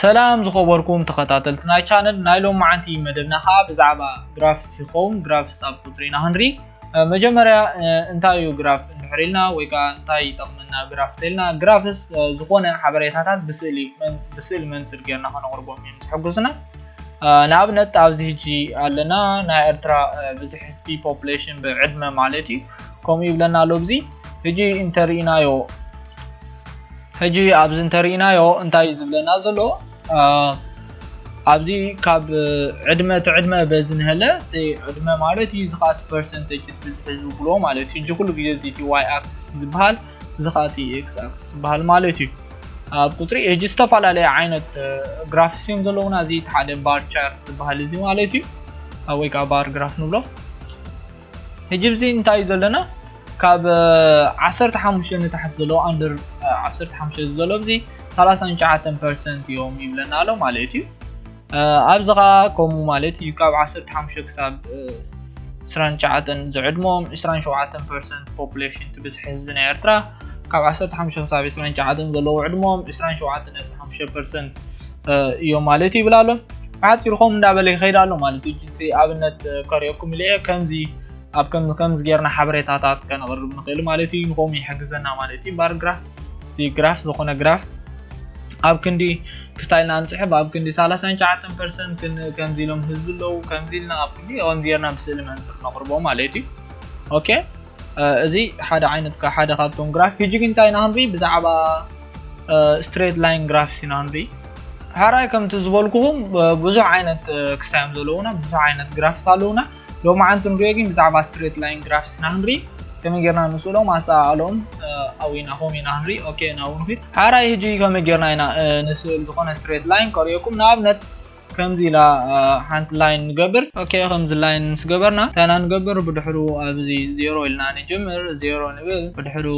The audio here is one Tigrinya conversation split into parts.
ሰላም ዝኸበርኩም ተኸታተልቲ ናይ ቻነል ናይ ሎማዓንቲ መደብና ከዓ ብዛዕባ ግራፍስ ይኸውን ግራፍስ ኣብ ቁፅሪ ኢና ክንርኢ መጀመርያ እንታይ እዩ ግራፍ እንድሕር ኢልና ወይ ከዓ እንታይ ይጠቕመና ግራፍ ተልና ግራፍስ ዝኾነ ሓበሬታታት ብስእሊ ብስእሊ መንፅር ጌርና ከነቕርቦም እዮም ዝሕግዙና ንኣብነት ኣብዚ ህጂ ኣለና ናይ ኤርትራ ብዝሕ ህዝቢ ፖፕሌሽን ብዕድመ ማለት እዩ ከምኡ ይብለና ኣሎ ብዚ ህጂ እንተርኢናዮ ሕጂ ኣብዚ እንተሪኢናዮ እንታይ እዩ ዝብለና ዘሎ ኣብዚ ካብ ዕድመ እቲ ዕድመ በዚ ንሀለ እቲ ዕድመ ማለት እዩ እዚ ከዓ እቲ ፐርሰንቴጅ እቲ ብዝሒ ዝውክልዎ ማለት እዩ ሕጂ ኩሉ ግዜ እዚ እቲ ዋይ ኣክስስ ዝበሃል እዚ ከዓ እቲ ኤክስ ኣክስስ ዝበሃል ማለት እዩ ኣብ ቁፅሪ እጅ ዝተፈላለየ ዓይነት ግራፍስ እዮም ዘለውና እዚ ሓደ ባር ቻርት ዝበሃል እዚ ማለት እዩ ወይ ከዓ ባር ግራፍ ንብሎ ሕጂ ብዚ እንታይ እዩ ዘለና ካብ ዓሰርተ ሓሙሽተ ንታሕቲ ዘለዉ ኣንደር ዓሰርተ ሓሙሽተ ዝዘሎ ብዚ ሰላሳን ትሽዓተን ፐርሰንት እዮም ይብለና ኣሎ ማለት እዩ ኣብዚ ከዓ ከምኡ ማለት እዩ ካብ ዓሰርተ ሓሙሽተ ክሳብ ዕስራን ትሽዓተን ዝዕድሞም ዕስራን ሸውዓተን ፐርሰንት ፖፑሌሽን እቲ ብዝሒ ህዝቢ ናይ ኤርትራ ካብ ዓሰርተ ሓሙሽተ ክሳብ ዕስራን ትሽዓተን ዘለዉ ዕድሞም ዕስራን ሸውዓተን ነጥቢ ሓሙሽተ ፐርሰንት እዮም ማለት እዩ ይብላ ኣሎ ብሓፂሩ ከምኡ እንዳበለ ይኸይድ ኣሎ ማለት እዩ እቲ ኣብነት ከሪኦኩም ኢለ ከምዚ ኣብ ከምዚ ጌርና ሓበሬታታት ከነቕርብ ንኽእል ማለት እዩ ንከምኡ ይሕግዘና ማለት እዩ ባር ግራፍ እቲ ግራፍ ዝኾነ ግራፍ ኣብ ክንዲ ክስታይ ኢልና ንፅሕፍ ኣብ ክንዲ 39 ፐርሰንት ከምዚ ኢሎም ህዝቢ ኣለዉ ከምዚ ኢልና ኣብ ክንዲ ከምዚ ጌርና ብስእሊ መንፅር ነቕርቦ ማለት እዩ ኦኬ እዚ ሓደ ዓይነት ሓደ ካብቶም ግራፍ ሕጂ ግን እንታይ ኢና ክንርኢ ብዛዕባ ስትሬት ላይን ግራፍስ ኢና ንርኢ ሕራይ ከምቲ ዝበልኩኹም ብዙሕ ዓይነት ክስታ እዮም ዘለዉና ብዙሕ ዓይነት ግራፍስ ኣለዉና ሎሚ ዓንቲ ንሪኦ ግን ብዛዕባ ስትሬት ላይን ግራፍስ ኢና ክንርኢ ከመይ ጌርና ንስእሎም ኣሰኣኣሎም ኣዊናኹም ኢና ክንርኢ ኦኬ ናብኡ ንኺድ ሕራይ ህጂ ከመይ ጌርና ኢና ንስእል ዝኾነ ስትሬት ላይን ከርእየኩም ንኣብነት ከምዚ ኢላ ሓንቲ ላይን ንገብር። ኦኬ ከምዚ ላይን ምስ ገበርና ታይና ንገብር ብድሕሩ ኣብዚ ዜሮ ኢልና ንጅምር ዜሮ ንብል ብድሕሩ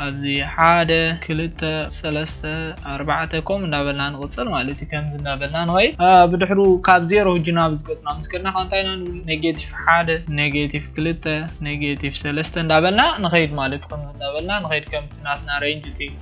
ኣብዚ ሓደ ክልተ ሰለስተ ኣርባዕተ ከምኡ እንዳበልና ንቕጽል ማለት እዩ ከምዚ እንዳበልና ንኸይድ ብድሕሩ ካብ ዜሮ ህጂ ናብ ዝገጽና ምስ ከድና ከኣ እንታይ ኢና ንብል ኔጌቲቭ ሓደ ኔጌቲቭ ክልተ ኔጌቲቭ ሰለስተ እንዳበልና ንኸይድ ማለት ከምዚ እንዳበልና ንኸይድ ከምቲ ናትና ሬንጅ እቲ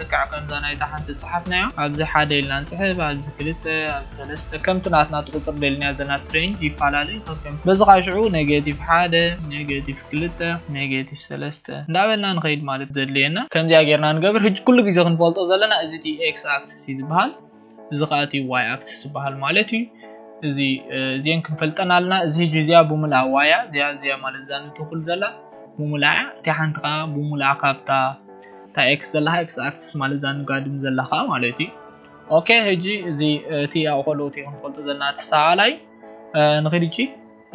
ልክዕ ከምዛ ናይታ ሓንቲ ዝጸሓፍናዮ ኣብዚ ሓደ ኢልና ንጽሕፍ ኣብዚ ክልተ ኣብዚ ሰለስተ ከምቲ ናትና ትቁጽር ደሊና ዘና ትሬን ይፋላለ ከከም በዚ ከኣ ሽዑ ነገቲቭ ሓደ ነገቲቭ ክልተ ነገቲቭ ሰለስተ እንዳበልና ንኸይድ ማለት ዘድልየና ከምዚኣ ጌርና ንገብር ህጂ ኩሉ ግዜ ክንፈልጦ ዘለና እዚ እቲ ኤክስ ኣክስስ እዩ ዝብሃል እዚ ከዓ እቲ ዋይ ኣክሲስ ዝበሃል ማለት እዩ እዚ እዚን ክንፈልጠን ኣለና እዚ ህጂ እዚኣ ብሙልኣ ዋያ እዚኣ እዚኣ ማለት እዛ ንትኩል ዘላ ብሙልኣ እያ እቲ ሓንቲ ከዓ ብሙልኣ ካብታ እታ ኤክስ ዘለካ ኤክስ ኣክሲስ ማለት እዛ ንጋድም ዘላ ከዓ ማለት እዩ ኦኬ ህጂ እዚ እቲ ኣብቆልኦት ክንፈልጦ ዘለና እቲ ሰዓላይ ንክድ እጂ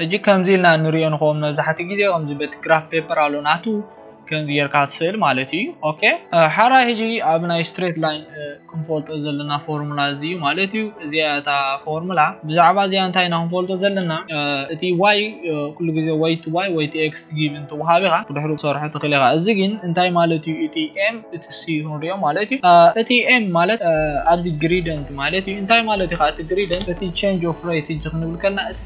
ሕጂ ከምዚ ኢልና እንሪኦ ንከውን መብዛሕትኡ ግዜ ከምዚ በቲ ግራፍ ፔፐር ኣሎ ናቱ ከምዚ ጌርካ ትስእል ማለት እዩ ኦኬ ሓራይ ሕጂ ኣብ ናይ ስትሬት ላይን ክንፈልጦ ዘለና ፎርሙላ እዚ እዩ ማለት እዩ እዚኣ እያ እታ ፎርሙላ ብዛዕባ እዚኣ እንታይ ኢና ክንፈልጦ ዘለና እቲ ዋይ ኩሉ ግዜ ወይ እቲ ዋይ ወይ እቲ ኤክስ ጊቭን ተወሃብ ኢኻ ብድሕሩ ክትሰርሖ ትኽእል ኢኻ እዚ ግን እንታይ ማለት እዩ እቲ ኤም እቲ ሲ ክንሪኦ ማለት እዩ እቲ ኤም ማለት ኣብዚ ግሪደንት ማለት እዩ እንታይ ማለት እዩ እቲ ግሪደንት እቲ ቼንጅ ኦፍ ሬት ሕጂ ክንብል ከለና እቲ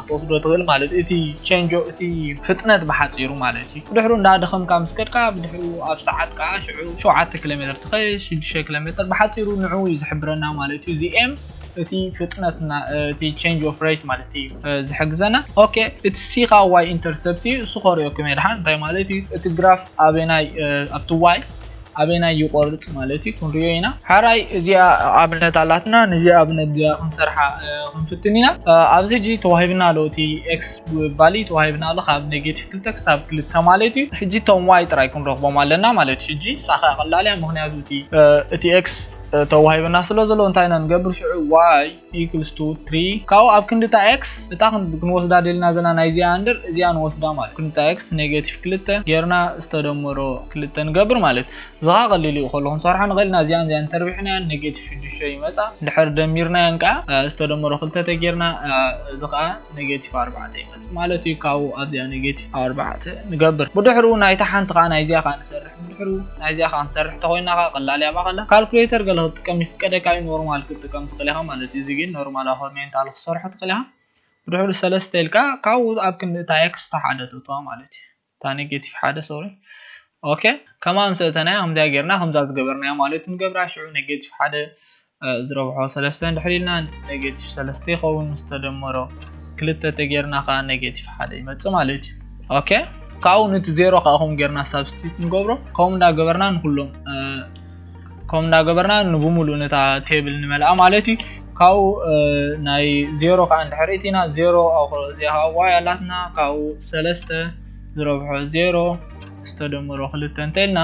ክትወስዶ ትኽእል ማለት እዩ እቲ ቸንጆ እቲ ፍጥነት ብሓጺሩ ማለት እዩ ብድሕሩ እንዳደኸምካ ምስ ከድካ ብድሕሩ ኣብ ሰዓት ከኣ ሽዑ ሸውዓተ ኪሎሜተር ትኸይድ ሽዱሽተ ኪሎሜተር ብሓጺሩ ንዑኡ እዩ ዝሕብረና ማለት እዩ እዚ ኤም እቲ ፍጥነትና እቲ ቸንጅ ኦፍ ሬት ማለት እዩ ዝሕግዘና ኦኬ እቲ ሲኻ ዋይ ኢንተርሰፕት እዩ እሱ ከሪኦኩም የድሓን እንታይ ማለት እዩ እቲ ግራፍ ኣበናይ ኣብቲ ዋይ ኣበናይ ይቆርጽ ማለት እዩ ክንሪኦ ኢና። ሐራይ እዚኣ ኣብነት ኣላትና ነዚኣ ኣብነት እዚኣ ክንሰርሓ ክንፍትን ኢና። ኣብዚ ሕጂ ተዋሂብና ኣሎ እቲ ኤክስ ቫሊ ተዋሂብና ኣሎ ካብ ኔጌቲቭ ክልተ ክሳብ ክልተ ማለት እዩ። ሕጂ እቶም ዋይ ጥራይ ክንረኽቦም ኣለና ማለት እዩ። ሕጂ እሳ ከኣ ቀላል እያ ምኽንያቱ እቲ እቲ ኤክስ ተዋሂብና ስለ ዘሎ እንታይ ኢና ንገብር ሽዑ ዋይ equals to three ካብኡ ኣብ ክንዲ እታ x እታ ክንወስዳ ደልና ዘለና ናይ እዚኣ እንድር እዚኣ ንወስዳ ማለት ክንዲ እታ x ኔጌቲቭ ክልተ ጌርና ዝተደመሮ ክልተ ንገብር ማለት እዚ ከዓ ቀሊል እዩ ከሎ ክንሰርሖ ንኽእል ኢና እዚኣን እዚኣን ተርቢሕናየን ኔጌቲቭ ሽዱሽተ ይመፃ እንድሕር ደሚርናየን ከዓ ዝተደመሮ ክልተ ተጌርና እዚ ከዓ ኔጌቲቭ ኣርባዕተ ይመፅእ ማለት እዩ ካብኡ ኣብዚኣ ኔጌቲቭ ኣርባዕተ ንገብር ብድሕሩ ናይታ ሓንቲ ከዓ ናይ እዚኣ ከዓ ንሰርሕ ድሕሩ ናይዚኣ ከኣ ንሰርሕ ተኾይና ከኣ ቀላል እያ ባቀላ ካልኩሌተር ገለ ክትጥቀም ይፍቀደካ እዩ ኖርማል ክትጥቀም ትኽእል ኢኻ ማለት እዩ እዚ ግን ኖርማል ኣኾርሜንታል ክትሰርሖ ትኽእል ኢኻ ብድሕሩ ሰለስተ ኢልካ ካብኡ ኣብ ክንዲ እታ ኤክስ እታ ሓደ ተእትዋ ማለት እዩ እታ ኔጌቲቭ ሓደ ሶሪ ኦኬ ከምኣ ምስ እተናያ ከምዚኣ ጌርና ከምዛ ዝገበርናያ ማለት ንገብራ ሽዑ ኔጌቲቭ ሓደ እዚ ረብሖ ሰለስተ እንድሕር ኢልና ኔጌቲቭ ሰለስተ ይኸውን ምስ ተደመሮ ክልተ ተጌርና ከዓ ኔጌቲቭ ሓደ ይመፅእ ማለት እዩ ኦኬ ካብኡ ንቲ ዜሮ ከዓ ከምኡ ጌርና ሳብስቲት ንገብሮ ከምኡ እንዳገበርና ንኩሎም ከምኡ እንዳገበርና ንብሙሉእ ነታ ቴብል ንመልኣ ማለት እዩ ካብኡ ናይ ዜሮ ከዓ እንድሕር እቲና ዜሮ እዚኣ ከዓ ዋይ ኣላትና ካብኡ ሰለስተ ዝረብሖ ዜሮ ዝተደመሮ ክልተ እንተኢልና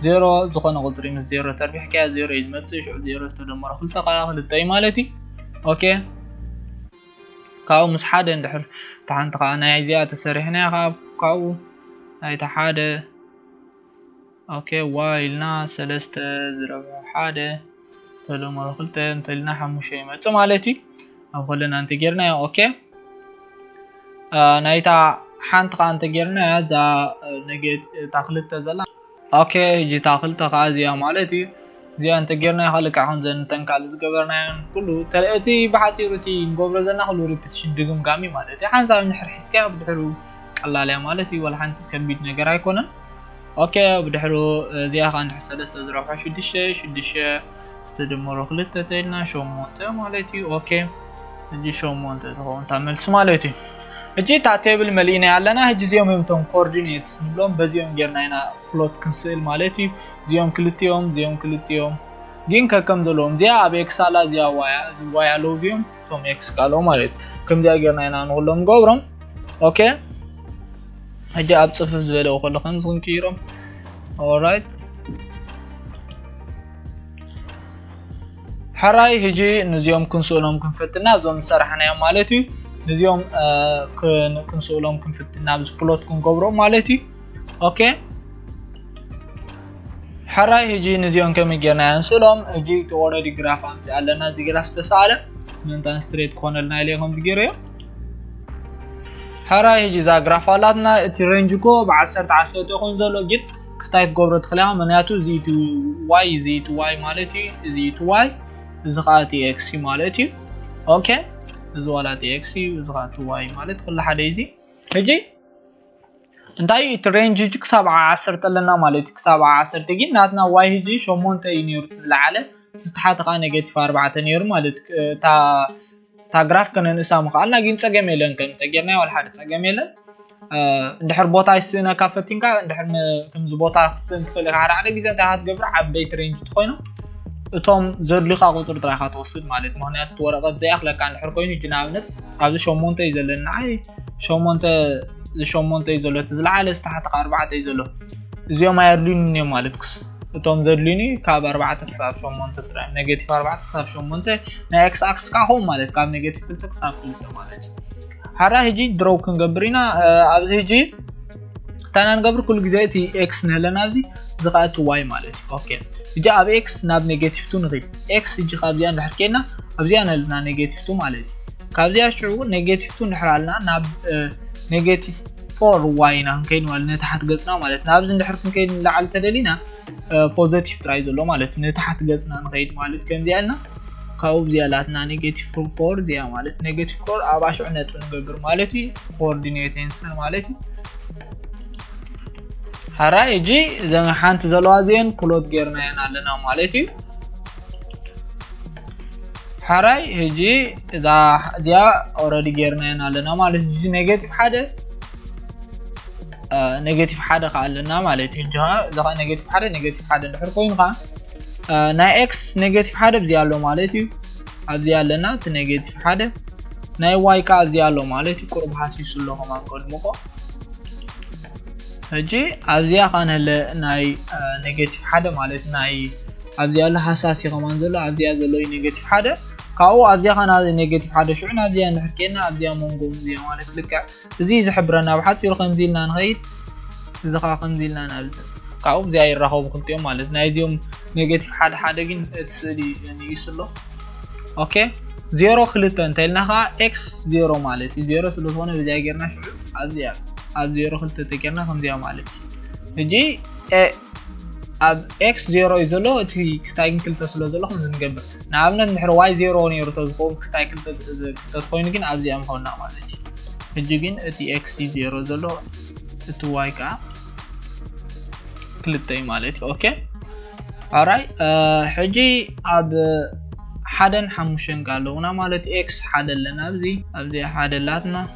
ዜሮ ዝኾነ ቁፅሪ ምስ ዜሮ ተርቢሕካዮ ዜሮ እዩ ዝመፅእ ሽዑ ዜሮ ዝተደመሮ ክልተ ከዓ ክልተ እዩ ማለት እዩ ኦኬ ካብኡ ምስ ሓደ እንድሕር እታ ሓንቲ ከዓ ናይ እዚኣ ተሰሪሕናያ ካብ ካብኡ ናይቲ ሓደ ኦኬ ዋይ ኢልና ሰለስተ ዝረብሑ ሓደ ሰለሞ ብ ክልተ እንተልና ሓሙሽተ ይመጽእ ማለት እዩ ኣብ ኮለና እንተ ጌርናዮ ኦኬ ናይታ ሓንቲ ከዓ እንተ ጌርናያ እዛ ነገት እታ ክልተ ዘላ ኦኬ ሕጂ እታ ክልተ ከዓ እዚኣ ማለት እዩ እዚኣ እንተ ጌርናዮ ከዓ ልክዕ ከምዘን እተን ካልእ ዝገበርናዮን ኩሉ እቲ ብሓፂሩ እቲ ንገብሮ ዘለና ኩሉ ሪፒቲሽን ድግምጋም እዩ ማለት እዩ ሓንሳብ ንሕር ሒዝካያ ብድሕሩ ቀላል እያ ማለት እዩ ወላ ሓንቲ ከቢድ ነገር ኣይኮነን ኦኬ ብድሕሩ እዚኣ ከ እንድሕር ሰለስተ ዝረብሖ ሽዱሽተ ሽዱሽተ ዝተደመሮ ክልተ ተኢልና ሸሞንተ ማለት እዩ ኦኬ እጂ ሸሞንተ ትኸውን እታ መልሲ ማለት እዩ እጂ እታ ቴብል መሊእናይ ኣለና ህጂ እዚኦም እዮም እቶም ኮኦርዲኔትስ ንብሎም በዚኦም ጌርና ኢና ፕሎት ክንስእል ማለት እዩ እዚኦም ክልቲኦም እዚኦም ክልቲኦም ግን ከከም ዘለዎም እዚኣ ኣብ ኤክስ ኣላ እዚኣ ዋያ ዋይ ኣለዉ እዚኦም እቶም ኤክስ ካልኦ ማለት እዩ ከምዚኣ ጌርና ኢና ንኩሎም ንገብሮም ኦኬ ሕጂ ኣብ ፅፍፍ ዝበለ ከሎ ከምዚ ክንቅይሮም ኦራይት ሕራይ ሕጂ ንዚኦም ክንስእሎም ክንፈትና እዞም ዝሰራሕናዮም ማለት እዩ ንዚኦም ክንስእሎም ክንፍትና ፕሎት ክንገብሮም ማለት እዩ ኦኬ ሕራይ ህጂ ንዚኦም ከመይ ጌርና ኢና ንስእሎም እጂ እቲ ኦረዲ ግራፍ ኣምፂ ኣለና እዚ ግራፍ ዝተሰኣለ ምእንታን ስትሬት ክኾነልና ኢለ ከምዚ ገይረ እዮ ሕራይ ህጂ እዛ ግራፍ ኣላትና እቲ ሬንጅ እኮ ብዓሰርተ ዓሰርተ ይኾን ዘሎ ግን ክስታይ ክገብሮ ትኽእል ኢኻ ምክንያቱ እዚ እቲ ዋይ እዚ እቲ ዋይ ማለት እዩ እዚ እቲ ዋይ እዚ ከዓ እቲ ኤክስ እዩ ማለት እዩ ኦኬ እዚ ዋላ እቲ ኤክስ እዩ እዚ ከዓ እቲ ዋይ ማለት ኩሉ ሓደ እዩ እዚ ህጂ እንታይ እዩ እቲ ሬንጅ ህጂ ክሳብ ዓ ዓሰርተ ኣለና ማለት እዩ ክሳብ ዓ ዓሰርተ ግን ናትና ዋይ ህጂ ሸሞንተ እዩ ነይሩ እቲ ዝለዓለ እቲ ዝተሓተ ከዓ ኔጌቲቭ ኣርባዕተ ነይሩ ማለት እታ እታ ግራፍ ከነንእሳ ምኽኣልና ግን ፀገም የለን ከም ተጌርናዮ ወልሓደ ፀገም የለን እንድሕር ቦታ ይስእነካ ፈቲንካ እንድሕር ከምዚ ቦታ ክትስእን ትኽእል ኢኻ ሓደ ሓደ ግዜ እንታይ ኢኻ ትገብር ዓበይቲ ሬንጅ ትኾይኑ እቶም ዘድልዩኻ ቁፅሪ ጥራይካ ትወስድ ማለት ምክንያቱ ወረቐት ዘይኣኽለካ እንድሕር ኮይኑ ህጂ ንኣብነት ኣብዚ ሸሞንተ እዩ ዘሎ ንዓይ ሸሞንተ ሸሞንተ እዩ ዘሎ እቲ ዝለዓለ ዝተሓተካ ኣርባዕተ እዩ ዘሎ እዚኦም ኣየድልዩን እዮም ማለትክስ እቶም ዘድልዩኒ ካብ ኣርባዕተ ክሳብ ሸሞንተ ጥራይ ኔጌቲቭ ኣርባዕተ ክሳብ ሸሞንተ ናይ ኤክስ ኣክስ ከዓ ከምኡ ማለት ካብ ኔጌቲቭ ክልተ ክሳብ ክልተ ማለት እዩ ሓራ ህጂ ድሮው ክንገብር ኢና ኣብዚ ህጂ ታና ንገብር ኩሉ ግዜ እቲ ኤክስ ንህለና ኣብዚ እዚ ከዓ እቲ ዋይ ማለት እዩ ኦኬ እጂ ኣብ ኤክስ ናብ ኔጌቲቭ ቱ ንኺድ ኤክስ እጂ ካብዚኣ እንድሕር ኬድና ኣብዚኣ ንህልና ኔጌቲቭ ቱ ማለት እዩ ካብዚኣ ሽዑ ኔጌቲቭ ቱ እንድሕር ኣልና ናብ ኔጌቲቭ ፎር ዋይ ኢና ክንከይድ ማለት ንታሓት ገፅና ማለት ናብዚ እንድሕር ክንከይድ ንላዓሊ ተደሊና ፖዘቲቭ ጥራይ ዘሎ ማለት ንታሓት ገፅና ንኸይድ ማለት ከምዚኣ ኢልና ካብኡ ብዚኣ ኣላትና ኔጌቲቭ ፎር ፎር እዚኣ ማለት ኔጌቲቭ ፎር ኣብ ኣሽዑ ነጥቢ ንገብር ማለት እዩ ኮኦርዲኔት ቴንስን ማለት እዩ ሓራይ እጂ እዘን ሓንቲ ዘለዋ እዚአን ፕሎት ጌርናየን ኣለና ማለት እዩ ሓራይ ህጂ እዛ እዚኣ ኦረዲ ጌርናየን ኣለና ማለት እዚ ኔጌቲቭ ሓደ ኔጌቲቭ ሓደ ከዓ ኣለና ማለት እዩ እዚ ከዓ ኔጌቲቭ ሓደ ኔጌቲቭ ሓደ እንድሕር ኮይኑ ከዓ ናይ ኤክስ ኔጌቲቭ ሓደ ብዚ ኣሎ ማለት እዩ ኣብዚ ኣለና እቲ ኔጌቲቭ ሓደ ናይ ዋይ ከዓ እዚ ኣሎ ማለት እዩ ቁርብ ሃሲሱ ኣሎ ከማን ከድምቆ ሕጂ ኣብዚኣ ከዓ ንህለ ናይ ኔጌቲቭ ሓደ ማለት ናይ ኣብዚኣ ኣሎ ሃሳሲ ከማን ዘሎ ኣብዚኣ ዘሎ እዩ ኔጌቲቭ ሓደ ካብኡ ኣብዚኣ ከዓ ኔጌቲቭ ሓደ ሽዑ ናብዚኣ ንሕር ኬና ኣብዚኣ መንጎ እዚኣ ማለት ልክዕ እዚ ዝሕብረና ብሓጺሩ ከምዚ ኢልና ንኸይድ እዚ ከኣ ከምዚ ኢልና ንኣልፍ ካብኡ እዚኣ ይራኸቡ ክልቲኦም ማለት ናይዚኦም ኔጌቲቭ ሓደ ሓደ ግን እቲ ስእሊ ንኢሱ ኣሎ ኦኬ ዜሮ ክልተ እንተኢልና ከዓ ኤክስ ዜሮ ማለት እዩ ዜሮ ስለዝኾነ በዚኣ ጌርና ሽዑ ኣብዚኣ ኣብ ዜሮ ክልተ ተጌርና ከምዚኣ ማለት እዩ ሕጂ ኣብ ኤክስ ዜሮ እዩ ዘሎ እቲ ክታይን ክልተ ስለ ዘሎ ከምዚ ንገብር ንኣብነት እንድሕር ዋይ ዜሮ ነይሩ ተዝኸውን ክስታይ ክልተ ዝህብ ተትኾይኑ ግን ኣብዚኣ ምኾና ማለት እዩ ሕጂ ግን እቲ ኤክስ እዩ ዜሮ ዘሎ እቲ ዋይ ከዓ ክልተ እዩ ማለት እዩ ኦኬ ኣራይ ሕጂ ኣብ ሓደን ሓሙሽተን ኣለውና ማለት ኤክስ ሓደ ኣለና ኣብዚ ኣብዚ ሓደ ኣላትና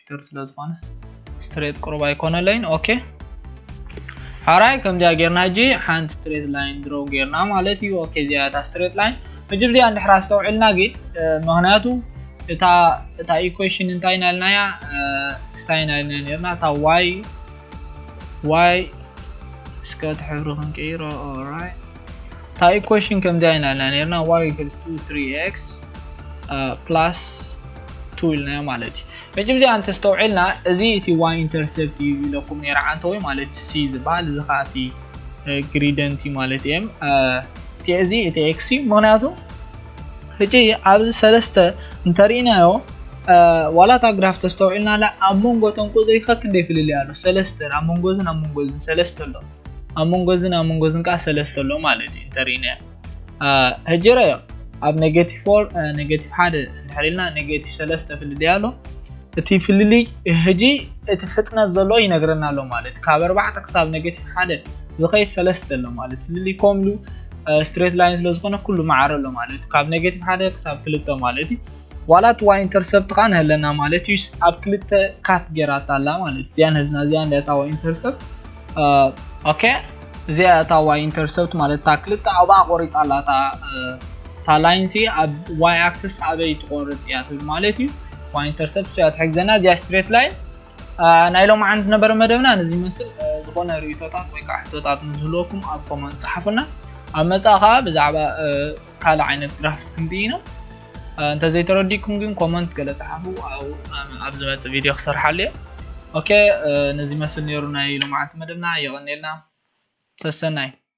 ኮምፒውተር ስለ ዝኾነ ስትሬት ቅሩብ ኣይኮነለይን ኦኬ ሓራይ ከምዚያ ጌርና ሕጂ ሓንቲ ስትሬት ላይን ድሮ ጌርና ማለት እዩ ኦኬ እዚኣ እታ ስትሬት ላይን ሕጂ ብዚኣ እንድሕር ኣስተውዒልና ግን ምክንያቱ እታ እታ ኢኩዌሽን እንታይ ኢና ኢልና እያ ስታይ ኢና ኢልና ነርና እታ ዋይ ዋይ እስከ እቲ ሕብሪ ክንቅይሮ ኦራይት እታ ኢኩዌሽን ከምዚኣ ኢና ኢልና ነርና y equals to 3x uh, plus 2 ኢልናዮ ማለት እዩ ሕጂ እዚኣ እንተስተውዒልና እዚ እቲ y ኢንተርሴፕት እዩ ኢለኩም ነይረ ዓንተወ ማለት c ዝበሃል እዚ ከዓ እቲ ግሪደንቲ ማለት እየም እቲ እዚ እቲ ኤክስ እዩ ምክንያቱ ሕጂ ኣብዚ ሰለስተ እንተርኢናዮ ዋላ እታ ግራፍ ተስተውዒልናላ ኣብ መንጎ ቶም ቁፅሪ ከክንደይ ፍልልይ ኣሎ ሰለስተን ኣብ መንጎዝን ኣብ መንጎዝን ሰለስተ ኣሎ ኣብ መንጎዝን ኣብ መንጎዝን ከዓ ሰለስተ ኣሎ ማለት እዩ እንተሪእናዮ ሕጂ ረዮ ኣብ ኔጌቲቭ ፎር ኔጌቲቭ ሓደ እንድሕር ኢልና ኔጌቲቭ ሰለስተ ፍልልይ ኣሎ እቲ ፍልልይ ሕጂ እቲ ፍጥነት ዘሎ ይነግረና ኣሎ ማለት ካብ ኣርባዕተ ክሳብ ኔጌቲቭ ሓደ ዝኸይድ ሰለስተ ኣሎ ማለት ፍልልይ ከምሉ ስትሬት ላይን ስለ ዝኾነ ኩሉ መዓረ ኣሎ ማለት ካብ ኔጌቲቭ ሓደ ክሳብ ክልተ ማለት እዩ ዋላ እቲ ዋይ ኢንተርሰፕት ከዓ ንህለና ማለት እዩ ኣብ ክልተ ካት ጌራታ ኣላ ማለት እዚኣ ንህዝና እዚኣ ንዳታ ዋይ ኢንተርሰፕት ኦኬ እዚኣ እታ ዋይ ኢንተርሰፕት ማለት እታ ክልተ ኣውባኣ ቆሪፃ ኣላ እታ እታ ላይን ሲ ኣብ ዋይ ኣክሰስ ኣበይ ትቆርፅ እያ ትብል ማለት እዩ ዋይ ኢንተርሰፕት እያ ትሕግዘና እዚኣ ስትሬት ላይን ናይ ሎም ዓን ዝነበረ መደብና ነዚ ይመስል ዝኾነ ርእቶታት ወይ ከዓ ሕቶታት ንዝህልወኩም ኣብ ኮመንት ፀሓፉና ኣብ መፃእ ከዓ ብዛዕባ ካልእ ዓይነት ግራፍት ክንርኢ ኢና እንተ ዘይተረዲኩም ግን ኮመንት ገለ ጽሓፉ ኣብ ዝመጽእ ቪድዮ ክሰርሓሉ እየ ኦኬ ነዚ መስል ነይሩ ናይ ሎማዓንቲ መደብና የቐኔልና ሰሰናይ